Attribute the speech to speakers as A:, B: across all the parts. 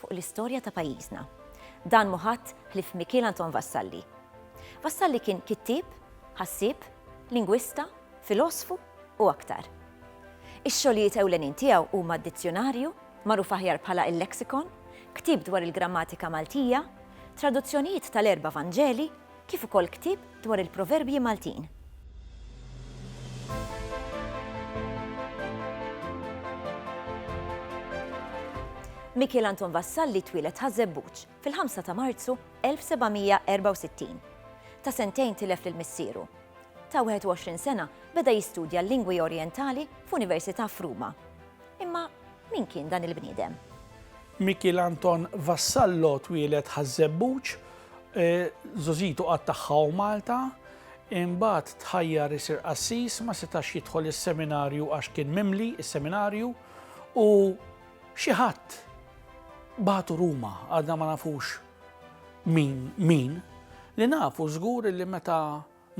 A: fuq l-istorja ta' pajjiżna. Dan mhu ħadd ħlief Mikiel Anton Vassalli. Vassalli kien kittieb, ħassieb, lingwista, filosfu u aktar. Ix-xogħlijiet ewlenin tiegħu huma d-Dizzjunarju, magħruf aħjar bħala il-Lexicon, ktieb dwar il-grammatika Maltija, traduzzjonijiet tal-erba' Vanġeli, kif ukoll ktieb dwar il-proverbji Maltin. Mikiel Anton Vassalli twieled Ħaż-Żebbuġ fil-5 ta' Marzu 1764. Ta' sentejn tilef lil missieru. Ta' 21 sena beda jistudja l-lingwi Orjentali f'università f'Ruma. Imma min kien dan il-bniedem? Mikiel
B: Anton Vassallo twieled Ħaż-Żebbuġ, żożitu qatt tagħha u Malta, imbagħad tħajjar isir qassis, ma setax jidħol is-seminarju għax kien mimli is-seminarju u xi ħadd bagħtu Ruma għadna ma nafux min min li nafu żgur li meta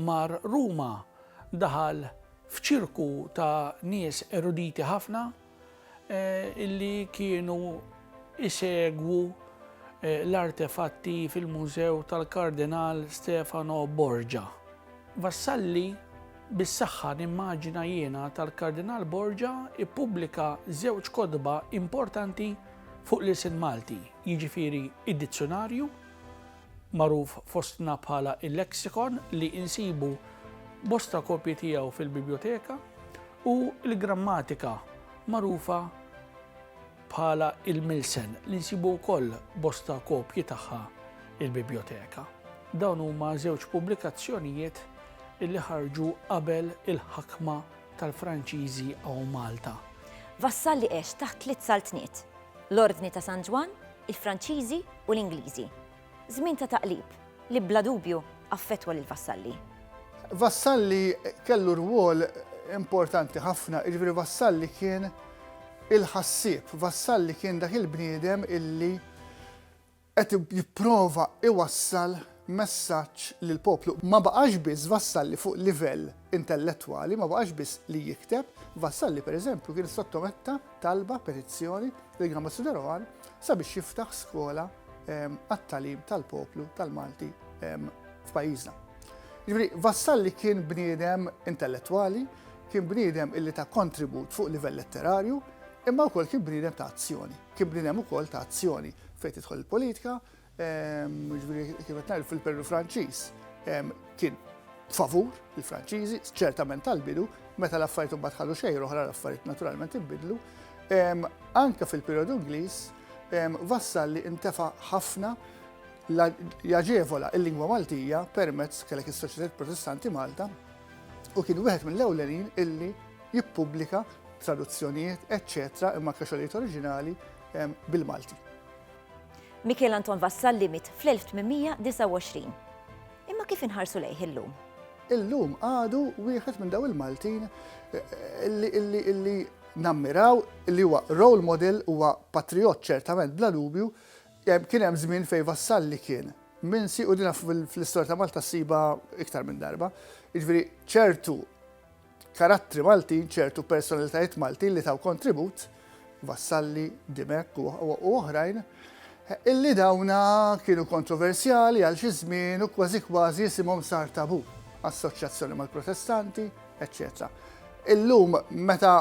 B: Mar Ruma, daħal f'ċirku ta' nies eruditi ħafna li kienu jsegwu l-artefatti fil-Mużew tal-Kardinal Stefano Borgia. Vassalli, Bis-saħħa nimmaġina jiena tal-Kardinal Borgia ippubblika żewġ kotba importanti fuq l-ilsien Malti, jiġifieri d-Dizzjunarju, magħruf fostna bħala il-Lexicon li insibu bosta kopji tiegħu fil-Bibljoteka u l-Grammatika magħrufa bħala il-Milsen li nsibu wkoll bosta kopji tagħha il-Bibljoteka. Dawn huma żewġ pubblikazzjonijiet li ħarġu qabel il-ħakma tal-Franċiżi għaw Malta. Vassalli
A: għex taħt tliet saltniet, l-Ordni ta' San Ġwann, il-Franċiżi u l-Ingliżi. Żmien ta' taqlib li bla dubju affettwa lil Vassalli. Vassalli
C: kellu rwol importanti ħafna, jiġifieri Vassalli kien il-ħassieb, Vassalli kien dak il-bniedem illi qed jipprova iwassal messaġġ lill-poplu. Ma baqax biss Vassalli fuq livell intellettwali, ma baqax biss li jikteb, Vassalli pereżempju kien sottometta talba, petizzjoni, lil Gamba Sudaroan sabiex jiftaħ skola ehm, għat-talim tal-poplu tal-Malti ehm, f'pajjiżna. Ġifieri Vassalli kien bniedem intellettwali, kien bniedem illi ta' kontribut fuq livell letterarju, imma wkoll kien bniedem ta' azzjoni. Kien bniedem ukoll ta' azzjoni fejn tidħol il-politika, Ġifieri kif qed ngħid fil-perjodu Franċiż kien favur il-Franċiżi, ċertament tal-bidu, meta l-affarijiet imbagħad ħadu xejn oħra l-affarijiet naturalment inbidlu. Anke fil-perjodu Ingliż vassal li intefa' ħafna jaġevola il-lingwa Maltija permezz kellek is-Soċjetà Protestanti Malta u kien wieħed mill-ewlenin illi jippubblika traduzzjonijiet, eċċetera, imma kaxolijiet oriġinali bil-Malti.
A: Mikiel Anton Vassalli miet fl-1829. Imma kif inħarsu lejh illum? Illum
C: għadu wieħed minn daw il-Maltin illi nammiraw li huwa role model, huwa patrijott ċertament bla dubju, kien hemm żmien fejn Vassalli kien minsi u dina fl-istorja ta' Malta ssibha iktar minn darba. Jiġifieri ċertu karattri Maltin, ċertu personalitajiet Maltin li taw kontribut, Vassalli, Dimech u oħrajn, illi dawna kienu kontroversjali għal xi żmien u kważi kważi jisimhom sar tabu, assoċjazzjoni mal-Protestanti, eċċetera. Illum meta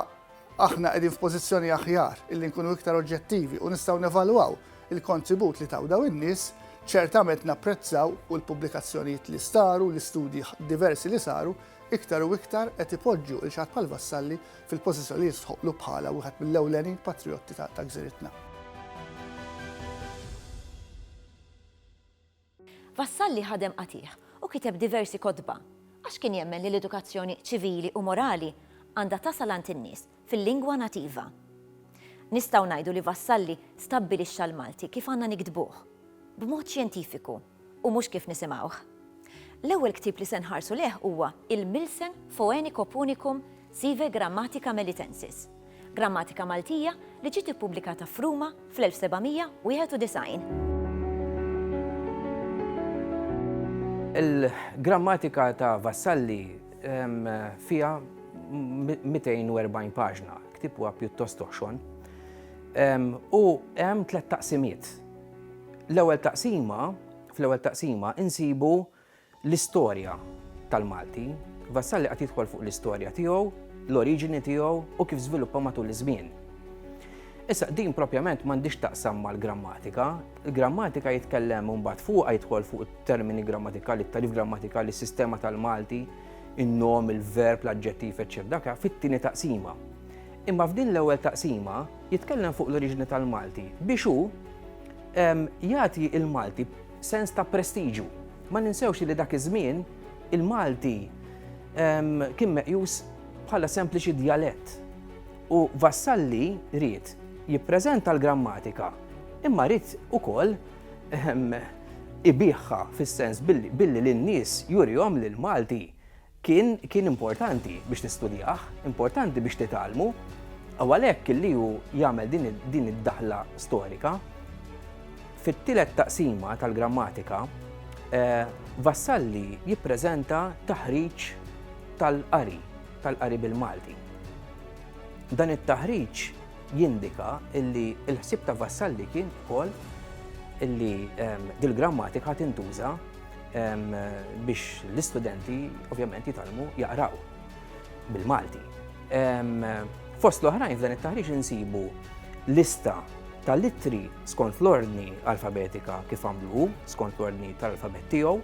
C: aħna qegħdin f'pożizzjoni aħjar illi nkunu iktar oġġettivi u nistgħu nevalwaw il-kontribut li taw daw in-nies, ċertament napprezzaw u l-pubblikazzjonijiet li staru, l-istudji diversi li saru, iktar u iktar qed ipoġġu lil xaħat bħal Vassalli fil-pożizzjoni li jistħoqqlu bħala wieħed mill-ewlenin patrijotti ta' gżiritna.
A: Vassalli ħadem qatigħ u kiteb diversi kotba għax kien jemmen li l-edukazzjoni ċivili u morali għandha tasal għand in-nies fil-lingwa nativa. Nistgħu ngħidu li Vassalli stabbilixxa l-Malti kif għandna niktbuh, b'mod xjentifiku u mhux kif nisimgħuh. L-ewwel ktieb li se nħarsu lejh huwa il-Milsen Foenico Punicum sive Grammatica Melitensis, grammatika Maltija li ġiet ippubblikata f'Ruma fl-1791.
D: Il-Grammatika ta' Vassalli fiha 240 paġna, ktieb huwa pjuttost oħxon, u hemm tliet taqsimiet. L-ewwel taqsima, fl-ewwel taqsima insibu L-istorja tal-Malti, Vassalli qagħad jidħol fuq l-istorja tiegħu, l-oriġini tiegħu u kif żviluppa matul iż-żmien. Issa din propjament m'għandhiex taqsam mal-grammatika. Il-grammatika jitkellem mbagħad fuqha jidħol fuq it-termini grammatikali, it-tarif grammatikali, is-sistema tal-Malti, in-nom, il-verb, l-aġġettiv, eċċetera, fit-tieni taqsima. Imma f'din l-ewwel taqsima jitkellem fuq l-oriġini tal-Malti biex hu jagħti il-Malti Sens ta' prestiġju. Ma ninsewx li dak iż-żmien il-Malti kien meqjus bħala sempliċi djalett u Vassalli ried jippreżenta l-grammatika imma ried ukoll ibiħha fis-sens billi lin-nies jurihom li l-Malti Kien, kien importanti biex tistudjah, importanti biex titgħallmu, u għalhekk illi hu jagħmel din, din id-daħla storika. Fit-tielet taqsima tal-grammatika, eh, Vassalli jippreżenta taħriġ tal-qari, tal-qari bil-Malti. Dan it-taħriġ jindika illi l-ħsieb ta' Vassalli kien ukoll illi ehm, dil-grammatika tintuża biex l-istudenti ovvjament jitalmu jaqraw bil-Malti. Fost l-oħrajn f'dan it-taħriġ insibu lista tal-ittri skont l-ordni alfabetika kif għamlu skont l-ordni tal-alfabet tiegħu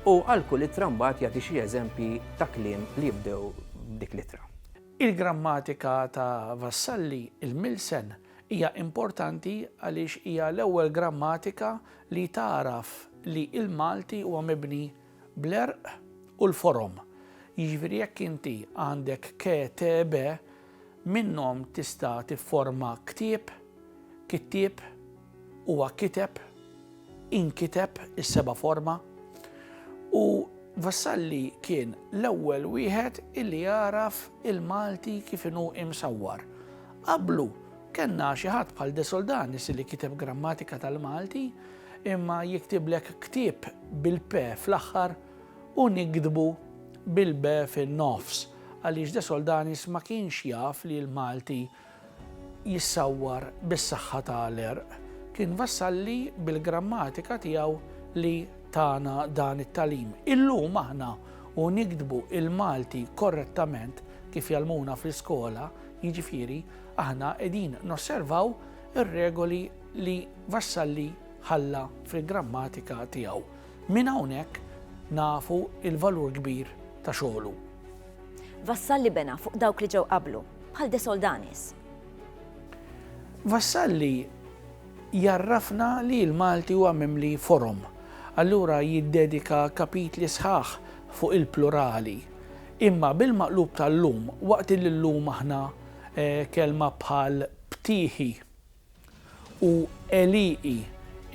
D: u għal kull ittra mbagħad jagħti xi eżempji ta' kliem li jibdew dik l-ittra. Il-grammatika
B: ta' Vassalli, il-Milsen, Hija importanti għaliex hija l-ewwel grammatika li tagħraf li l-Malti huwa mibni bl-għerq u l-forom. Jiġifieri jekk inti għandek ke, te, be, minnhom tista' tifforma ktieb, kittieb, huwa kiteb, inkiteb is-seba' forma u Vassalli kien l-ewwel wieħed illi għaraf il-Malti kif inhu imsawwar. Qablu kellna xi ħadd bħal De Soldanis li kiteb grammatika tal-Malti imma jiktiblek ktieb bil-p fl-aħħar u niktbu bil-b fin-nofs għaliex De Soldanis ma kienx jaf li l-Malti jissawwar bis-saħħa ta' l-għerq, kien Vassalli bil-grammatika tiegħu li tana dan it-tagħlim. Illum aħna u niktbu l-Malti korrettament kif jgħallmuna fl-iskola, jiġifieri aħna qegħdin nosservaw ir-regoli li Vassalli ħalla fil-grammatika tiegħu. Minn hawnhekk nafu l-valur kbir ta' xogħlu. Vassalli
A: bena fuq dawk li ġew qablu, bħal De Soldanis.
B: Vassalli jarrafna li l-Malti huwa mimli forom, allura jiddedika kapitli sħaħ fuq il-plurali. Imma bil-maqlub tal-lum, waqt li llum aħna eh, kelma bħal ptieħi, u Eliqi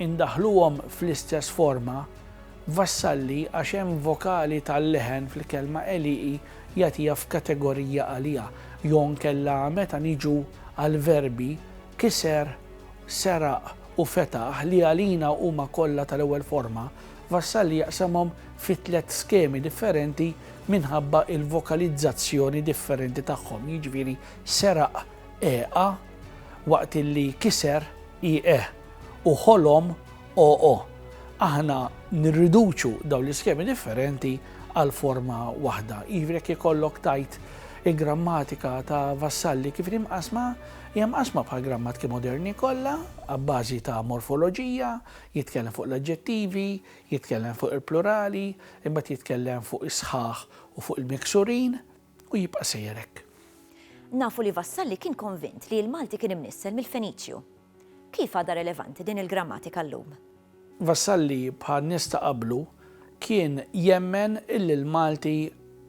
B: indaħħluhom fl-istess forma, vassalli għax hemm vokali tal-leħen fil-kelma Eliqi jagħtiha f'kategorija għalija, jew inkella meta niġu għall-verbi kiser, seraq u fetaħ li għalina huma kollha tal-ewwel forma, Vassalli jaqsamhom fi tliet skemi differenti minħabba l-vokalizzazzjoni differenti tagħhom, jiġifieri seraq, EA, waqt illi kiser IE u ħolom OO. Aħna nirriduċu dawn l-iskemi differenti għal forma waħda. Jiġifieri jekk ikollok tajt il-grammatika ta' Vassalli kif inhi mqassma, hija mqassma bħal grammatiki moderni kollha, abbażi ta' morfoloġija, jitkellem fuq l-aġġettivi, jitkellem fuq il-plurali, imbagħad jitkellem fuq is-sħaħ u fuq il-miksurin. U jibqa' sejjer hekk. Nafu
A: li Vassalli kien konvint li l-Malti kien imnissel mill-Feniċju. Kif għadha relevanti din il-grammatika llum? Vassalli,
B: bħal nies ta' qablu, kien jemmen illi l-Malti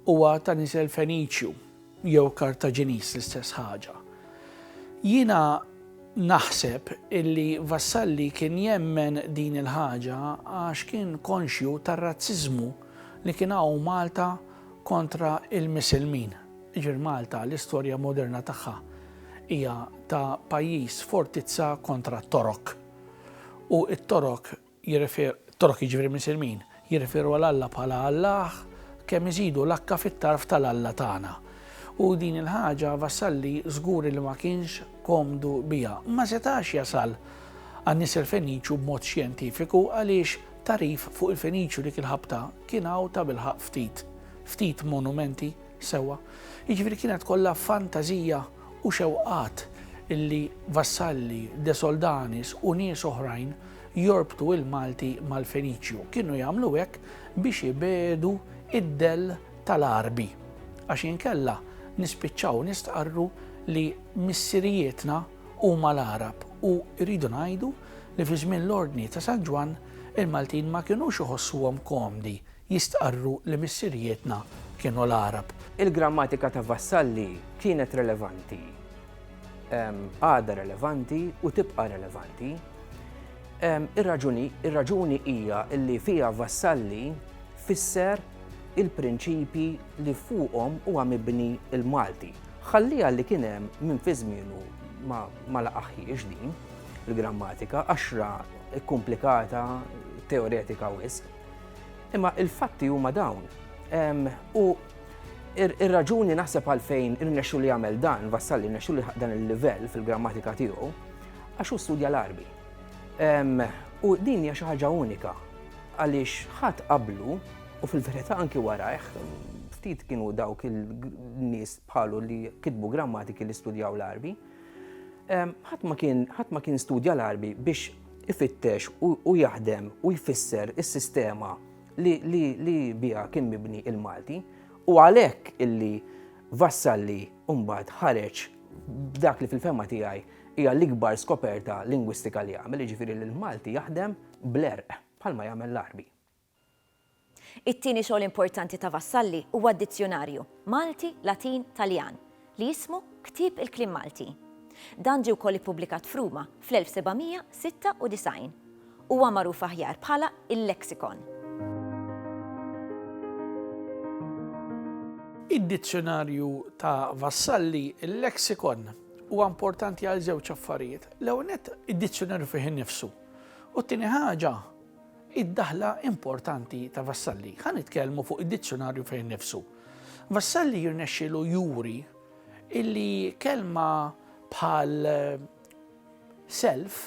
B: huwa ta' nisel Feniċju, jew Kartaġiniż, l-istess ħaġa. Jiena naħseb illi Vassalli kien jemmen din il-ħaġa għax kien konxju tar-razziżmu li kien hawn Malta kontra l-Misilmin. Jiġifieri Malta l-istorja moderna tagħha hija ta' pajjiż fortizza kontra t-Torok. U t-Torok jirrefer, Torok jiġifieri Misilmin, jirreferu għal Alla bħala Allah kemm iżidu l-akka fit-tarf tal-Alla tagħna. U din il-ħaġa Vassalli żgur li ma kienx komdu biha. Ma setax jasal għan-nies il-Feniċu b'mod xjentifiku għaliex Tagħrif fuq il-Feniċju dik il-ħabta kien hawn tabilħaqq ftit. Ftit monumenti, sewwa. Jiġifieri kienet kollha fantażija u xewqat li Vassalli, De Soldanis u nies oħrajn jorbtu il-Malti mal-Feniċju. Kienu jagħmlu hekk biex ibiegħdu id-dell tal-Għarbi. Għax inkella nispiċċaw nistqarru li missirijietna, Huma l-Għarab u rridu ngħidu li fi żmien l-Ordni ta' San Ġwann il-Maltin ma kinux iħossuhom komdi jistqarru li missirijietna kienu l-Għarab. Il-grammatika ta'
D: Vassalli kienet relevanti, għadha relevanti u tibqa' relevanti. Ir-raġuni hija li fiha Vassalli fisser il-prinċipji li fuqhom huwa mibni l-Malti. Ħalliha li kien hemm min fi żmienu ma, ma laqahhiex din, il-grammatika, għaxra kkumplikata, teoretika wisq. Imma il-fatti huma dawn. U ir-raġuni naħseb għalfejn irnexxu li jagħmel dan, vassal li irnexxu li dan il-livell fil-grammatika tiegħu, għax hu studja l-arbi. U din hija xi ħaġa unika għaliex ħadd qablu U fil-verità anki warajh, ftit kienu dawk il-nies bħalu li kitbu grammatiki li studjaw l-Arbi. Ħadd ma kien studja l-Arbi biex ifittex u jaħdem u jfisser is-sistema li biha kien mibni il-Malti. U għalhekk illi Vassalli mbagħad ħareġ b'dak li fil-fema tiegħi hija l-ikbar skoperta lingwistika li għamel, jiġifieri li l-Malti jaħdem bl-erq bħalma jagħmel l-Arbi.
A: It-tieni xogħol importanti ta' Vassalli huwa d-dizzjunarju, Malti, Latin, Taljan, li jismu Ktieb il-Kliem Malti. Dan ġie wkoll ippubblikat f'Ruma fl-1796. Huwa magħruf aħjar bħala il-Lexicon.
B: Id-dizzjunarju ta' Vassalli, il-Lexicon, huwa importanti għal żewġ affarijiet. L-ewwel nett, id-dizzjunarju fih innifsu, u t-tieni ħaġa, Id-daħla importanti ta' Vassalli. Ħa nitkellmu fuq id-dizzjonarju fejn nifsu. Vassalli jirnexxilu juri illi kelma bħal eh, self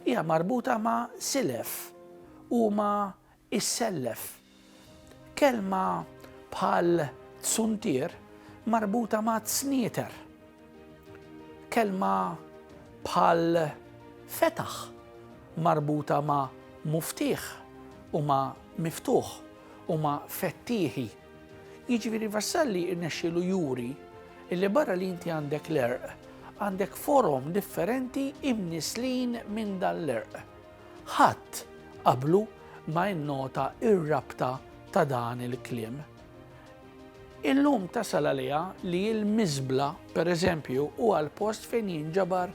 B: hija marbuta ma' silef u ma' issellef. Kelma bħal tsuntier marbuta ma' tsnieter. Kelma bħal fetaħ marbuta ma' muftieħ u ma' miftuħ u ma' fettieħi. Jiġifieri Vassalli rnexxielu juri illi barra li inti għandek l-għerq, għandek forom differenti imnislin minn dan l-għerq. Ħadd qablu ma innota r-rabta ta' dan il-kliem. Illum tasal għaliha li l-miżbla, per eżempju, huwa l-post fejn jinġabar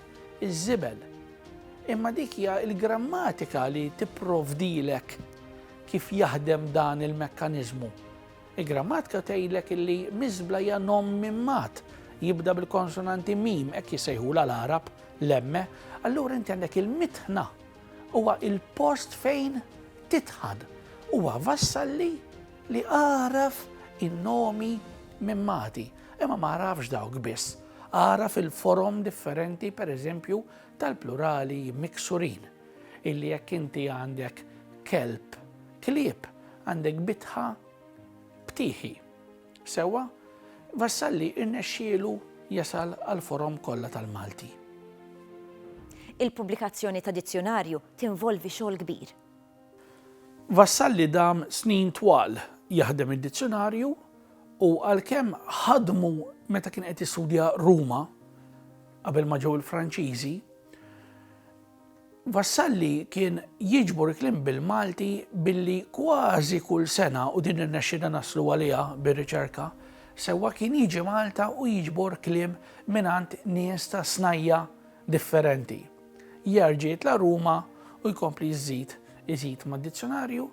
B: iż-żibel. Imma dik hija l-grammatika li tipprovdilek kif jaħdem dan il-mekkaniżmu. Il-grammatika tgħidlek illi miżbla hija nom minn mat, jibda bil-konsonanti mim, hekk jissejħula l-Għarab lemme, allura inti għandek il-mitħna huwa il-post fejn titħan. Huwa vassalli li għaraf in-nomi minn mati, imma ma għarafx dawk biss, għaraf il-forom differenti pereżempju tal-plurali miksurin. illi jekk inti għandek kelb klieb għandek bitħa btieħi. Sewwa, Vassalli irnexxielu jasal għall-forom kollha tal-Malti.
A: Il-pubblikazzjoni ta' dizzjonarju tinvolvi xogħol kbir.
B: Vassalli dam snin twal jaħdem id-dizzjonarju u għalkemm ħadmu meta kien qed jistudja Ruma qabel ma ġew il-Franċiżi, Vassalli kien jiġbor il-kliem bil-Malti billi kważi kull sena, u din irnexxielna naslu għaliha bir-riċerka sewwa, kien jiġi Malta u jiġbor kliem mingħand nies ta' snajja' differenti. Jerġa' jitla' Ruma u jkompli jżid iżid mad-dizzjunarju.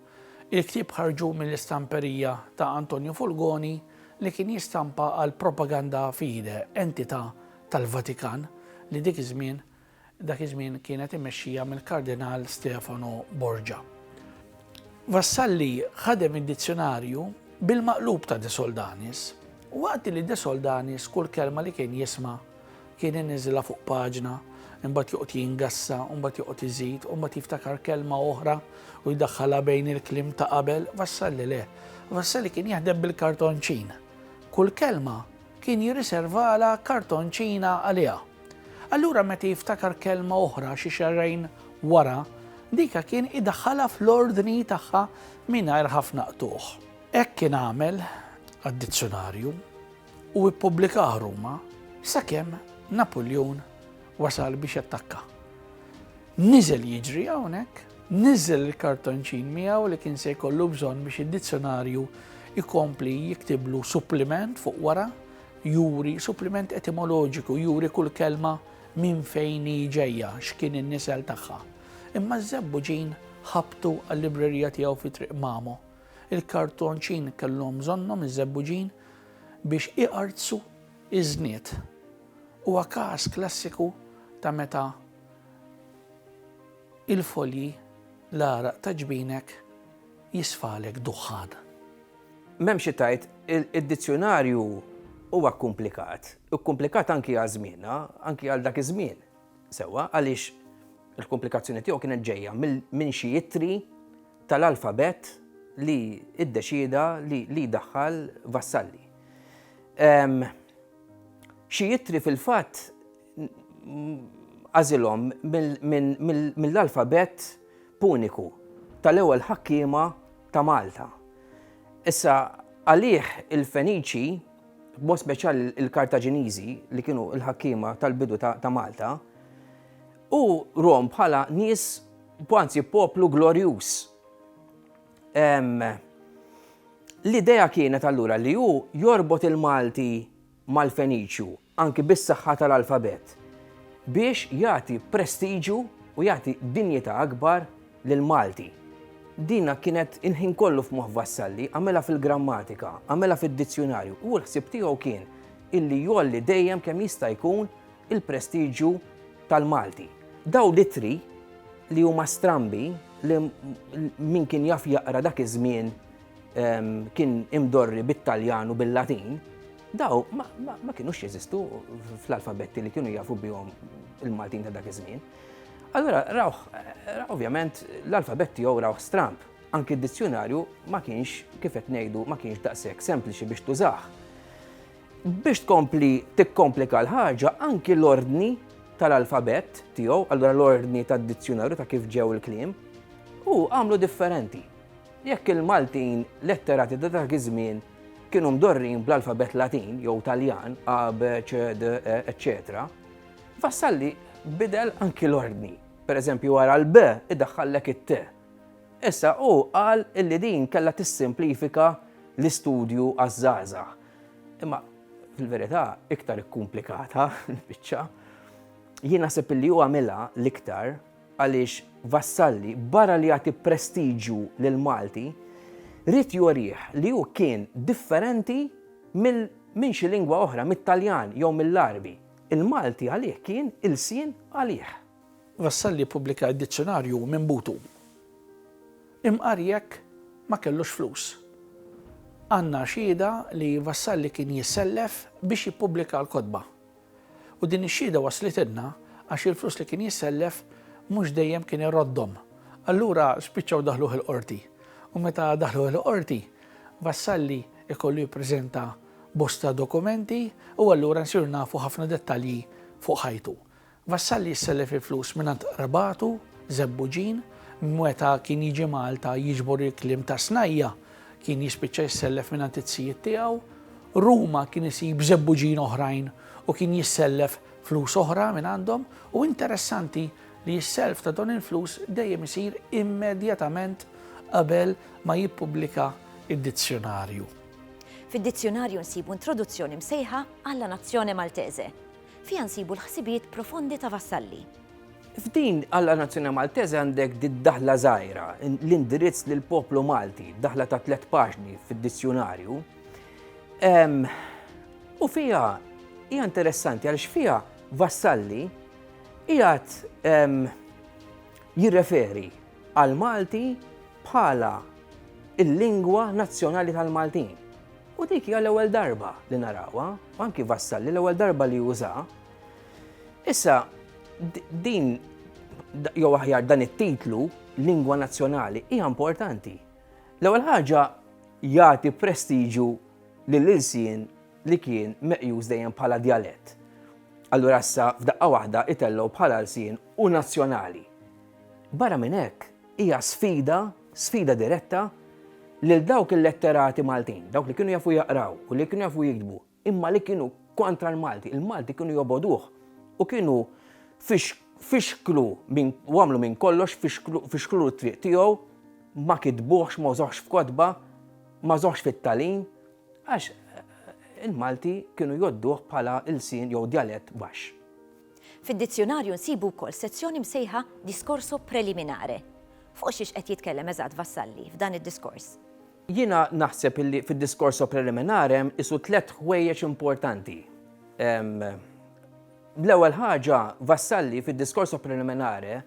B: Il-ktieb ħarġu mill-istamperija ta' Antonio Fulgoni li kien jistampa għall-Propaganda Fide, entità tal-Vatikan li dik iż-żmien dak iż-żmien kienet immexxija mill-Kardinal Stefano Borgia. Vassalli ħadem id-dizzjunarju bil-maqlub ta' De Soldanis, waqt li De Soldanis kull kelma li kien jisma' kien iniżilha fuq paġna, imbagħad joqgħod jingassa, imbagħad joqgħod iżid, imbagħad jiftakar kelma oħra u jdaħħalha bejn il-kliem ta' qabel, Vassalli le. Vassalli kien jaħdem bil-kartonċin. Kull kelma kien jirriservala kartonċina għaliha. Allura meta jiftakar kelma oħra xi xahrejn wara, dika kien idaħħalha fl-ordni tagħha mingħajr ħafna qtugħ. Hekk kien għamel għad-dizzjunarju u ppubblikah Ruma sakemm Napuljun wasal biex jattakka. Niżel jiġri hawnhekk, niżel il-kartonċin miegħu li kien se jkollu bżonn biex id-dizzjonarju ikompli jiktiblu suppliment fuq wara juri suppliment etimoloġiku, juri kull kelma minn fejn hi ġejja, x'kien in-nisel tagħha. Imma ż-Żebbuġin ħabtu għal-librerija tiegħu fi Triq Mamo. Il-kartonċin kellhom bżonnhom iż-Żebbuġin biex iqartsu iż-żnied. Huwa każ klassiku ta' meta il-folji l-għaraq ta' ġbinek jisfalek duħħan. M'hemm
D: xi tgħid, id-dizzjunarju huwa kkumplikat. Hu kkumplikat anki għal żmienna, anki għal dak iż-żmien. Sewwa, għaliex il-kkumplikazzjoni tiegħu kienet ġejja minn xi ittri tal-alfabett li ddeċieda li jdaħħal Vassalli. Xi ittri fil-fatt għażilhom mill-alfabett puniku tal-ewwel ħakkiema ta' Malta. Issa għalih il-Feniċi, b'mod speċjali l-Kartaġiniżi li kienu l-ħakkiema tal-bidu ta' Malta, u rom bħala nies, anzi poplu glorjuż. L-idea kienet allura li hu jorbot il-Malti mal-Feniċju. anki bis-saħħa tal-alfabet, biex jagħti prestiġju u jagħti dinjità akbar lill-Malti. Dina kienet il-ħin kollu f'moħħ Vassalli, għamilha fil-grammatika, għamilha fid-dizzjunarju, u l-ħsieb tiegħu kien illi jgħolli dejjem kemm jista' jkun il-prestiġju tal-Malti. Dawn l-ittri li huma strambi li min kien jaf jaqra dak iż-żmien kien imdorri bit-Taljan u bil-Latin, daw ma kienux jeżistu fl-alfabetti li kienu jafu bihom il-Maltin ta' dak iż-żmien. Allura, raw, ovvjament, l-alfabet tiegħu raw stramp. Anki d-dizzjonarju ma kienx, kif qed ngħidu, ma kienx daqshekk sempliċi biex tużah. Biex tkompli tikkomplika l-ħaġa, anki l-ordni tal-alfabet tiegħu, allura l-ordni tad-dizzjonarju ta' kif ġew il-kliem, u għamlu differenti. Jekk il-Maltin letterati ta' dak iż-żmien kienu mdorrin bl-alfabett Latin jew Taljan, A, B, C, D, E, eċċetera, Vassalli bidel anki l-ordni. Per eżempju, wara l-B idaħħallek it-T. Issa hu qal illi din kellha tissimplifika l-istudju għaż-żgħażagħ. Imma fil-verità iktar ikkumplikatha l-biċċa. Jien naħseb illi hu għamilha l-iktar għaliex Vassalli, barra li jagħti prestiġju lill-Malti, ried jurih li hu kien differenti mill minn xi lingwa oħra, mit-Taljan jew mill-Għarbi. Il-Malti għalih kien ilsien għalih. Vassalli
B: ppubblika d-dizzjonarju minn butu. Imqar jekk ma kellux flus. Għandna xhieda li Vassalli kien jissellef biex jippubblika l-kotba. U din ix-xhieda waslithilna għax il-flus li kien jissellef mhux dejjem kien iroddhom. Allura spiċċaw daħluh il-Qorti. U meta daħluh il-Qorti, Vassalli ikollu jippreżenta bosta dokumenti u allura nsiru nafu ħafna dettalji fuq ħajtu. Vassalli jissellef il-flus mingħand qrabatu, Żebbuġin, meta kien jiġi Malta jiġbor il-kliem tas-snajja, Kien jispiċċa jissellef mingħand it-tzijiet tiegħu. Ruma kien isib żebbuġin oħrajn u kien jissellef flus oħra minn għandhom u interessanti li s-self ta' dawn il-flus dejjem isir immedjatament qabel ma jippubblika d-dizzjonarju.
A: Fid-dizzjonarju nsibu introduzzjoni msejħa Alla Nazione Maltese. Fiha nsibu l-ħsibijiet profondi ta' Vassalli. F'din
D: għalla nazzjoni Maltese għandek did-daħla żgħira, l-indirizz lil poplu Malti, daħla ta' tliet paġni fid-dizzjunarju. U fija hija interessanti għaliex fija Vassalli qiegħed jirreferi għal Malti bħala il-lingwa nazzjonali tal-Maltin. U dik hija l-ewwel darba li narawha, anki Vassalli l-ewwel darba li juża Issa, din, jew aħjar dan it-titlu, lingwa nazzjonali, hija importanti. L-ewwel ħaġa jagħti prestiġu lill-ilsien li kien meqjus dejjem bħala djalett. Allura issa f'daqqa waħda itellgħu bħala lsien u nazzjonali. Barra minn hekk, hija sfida, sfida diretta lil dawk il-letterati Maltin, dawk li kienu jafu jaqraw u li kienu jafu jiktbu, imma li kienu kontra l-Malti, il-Malti kienu jobogħduh u kienu fixklu u għamlu minn kollox fixklulu t-triq tiegħu, ma kitbuhx, ma użahx f'kotba, ma żahx fit-tagħlim, għax il-Malti kienu jgħodduh bħala ilsien jew djalett baxx. Fid-dizzjunarju
A: nsibu wkoll sezzjoni msejħa Discorso preliminare. Fuq xiex qed jitkellem eżatt Vassalli f'dan id-diskors? Jiena
D: naħseb illi fid-discorso preliminare hemm qisu tliet ħwejjeġ importanti. L-ewwel ħaġa, Vassalli fid-discorso preliminare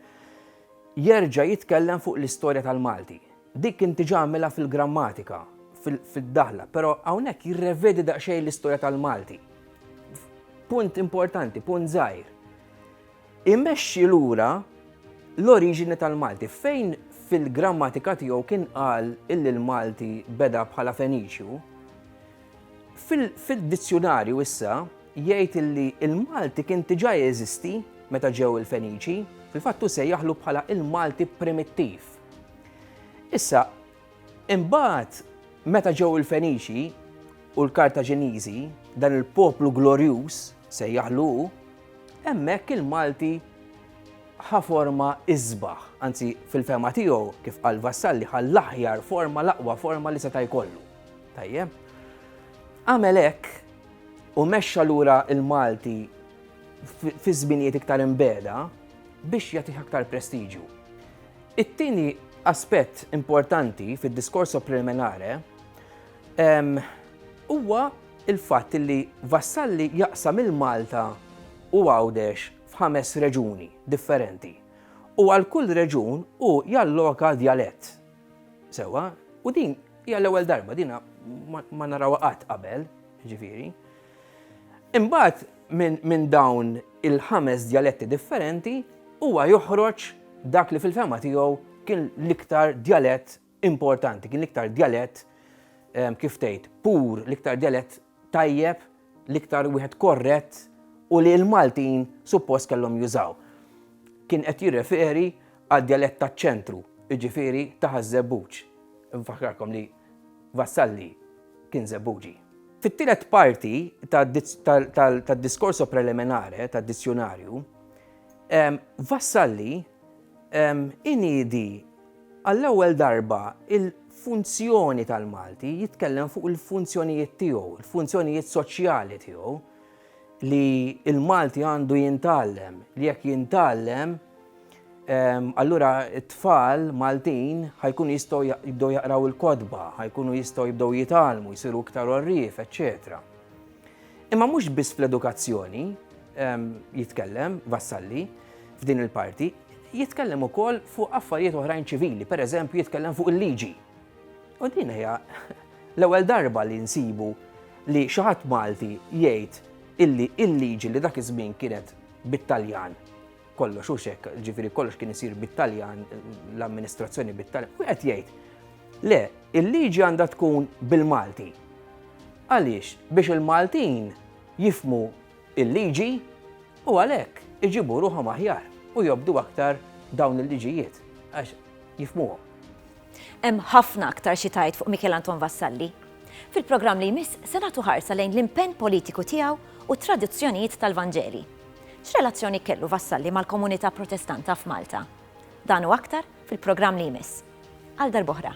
D: jerġa' jitkellem fuq l-istorja tal-Malti. Dik kien diġà għamilha fil-grammatika, fid-daħla, però hawnhekk jirrevedi daqsxejn l-istorja tal-Malti. Punt importanti, punt żgħir. Imexxi lura l-oriġini tal-Malti. Fejn fil-grammatika tiegħu kien qal illi l-Malti beda bħala Feniċju, fid-dizzjunarju issa jgħid illi l-Malti kien diġà jeżisti meta ġew il-Feniċi, fil-fatt hu sejjaħlu bħala l-Malti primittiv. Issa, Imbagħad, meta ġew il-Feniċi u l-Kartaġiniżi, dan il-poplu glorjuż, sejjaħlu hu, hemmhekk il-Malti ħa forma isbaħ, anzi fil-fehma tiegħu, kif qal Vassalli, ħa l-aħjar forma, l-aqwa forma li seta' jkollu. Tajjeb? Għamel hekk u mexxa lura il-Malti fi żminijiet iktar imbeda biex jagħtih aktar prestiġju. It-tieni aspett importanti fid-discorso preliminare huwa l-fatt li Vassalli jaqsam il-Malta u Għawdex f'ħames reġuni differenti u għal kull reġun hu jalloka djalett. Sewwa? U din hija l-ewwel darba, din ma narawha qatt qabel, jiġifieri. Imbagħad minn min dawn il-ħames djaletti differenti huwa joħroġ dak li fil-fehma tiegħu kien l-iktar djalett importanti, kien l-iktar djalett ehm, kif tgħid pur, l-iktar djalett tajjeb, l-iktar wieħed korrett u li l-Maltin suppost kellhom jużaw. Kien qed jirreferi għad djalett taċ-ċentru, jiġifieri ta' ħaż-żebbuġ. Nfakkarkom li Vassalli kien Żebbuġi. Fit-tielet parti tad-Discorso Preliminare tad-Dizzjunarju, Vassalli iniedi għall-ewwel darba l-funzjoni tal-Malti, jitkellem fuq il-funzjonijiet tiegħu, il-funzjonijiet soċjali tiegħu, li l-Malti għandu jintgħallem, li jekk jintgħallem ehm, allura t-tfal Maltin ħajkun jistgħu jibdew jaqraw il-kodba, ħajkunu jistgħu jibdew jitgħallmu, jsiru iktar orrif, eċċetera. Imma mhux biss fl-edukazzjoni ehm, jitkellem Vassalli f'din il-parti, jitkellem ukoll fuq affarijiet oħrajn ċivili, pereżempju jitkellem fuq il-liġi. U din hija l-ewwel darba li nsibu li xi ħadd Malti jgħid illi l-liġi li dak iż-żmien kienet bit-Taljan, kollox hux hekk, ġifieri kollox kien isir bit-Taljan, l-amministrazzjoni bit-Taljan, u qed jgħid, le, il-liġi għandha tkun bil-Malti. Għaliex? Biex il-Maltin jifmu il-liġi u għalhekk iġibu ruħhom aħjar u jobdu aktar dawn il-liġijiet għax jifmuhom. Hemm
A: ħafna aktar xi tgħid fuq Mikiel Anton Vassalli. Fil-programm li jmiss se nagħtu ħarsa lejn l-impenn politiku tiegħu u t-tradizzjonijiet tal-Vanġeli. X'relazzjoni kellu Vassalli mal-komunità Protestanta f'Malta? Dan u aktar fil-programm li jmiss. Għal darbohra.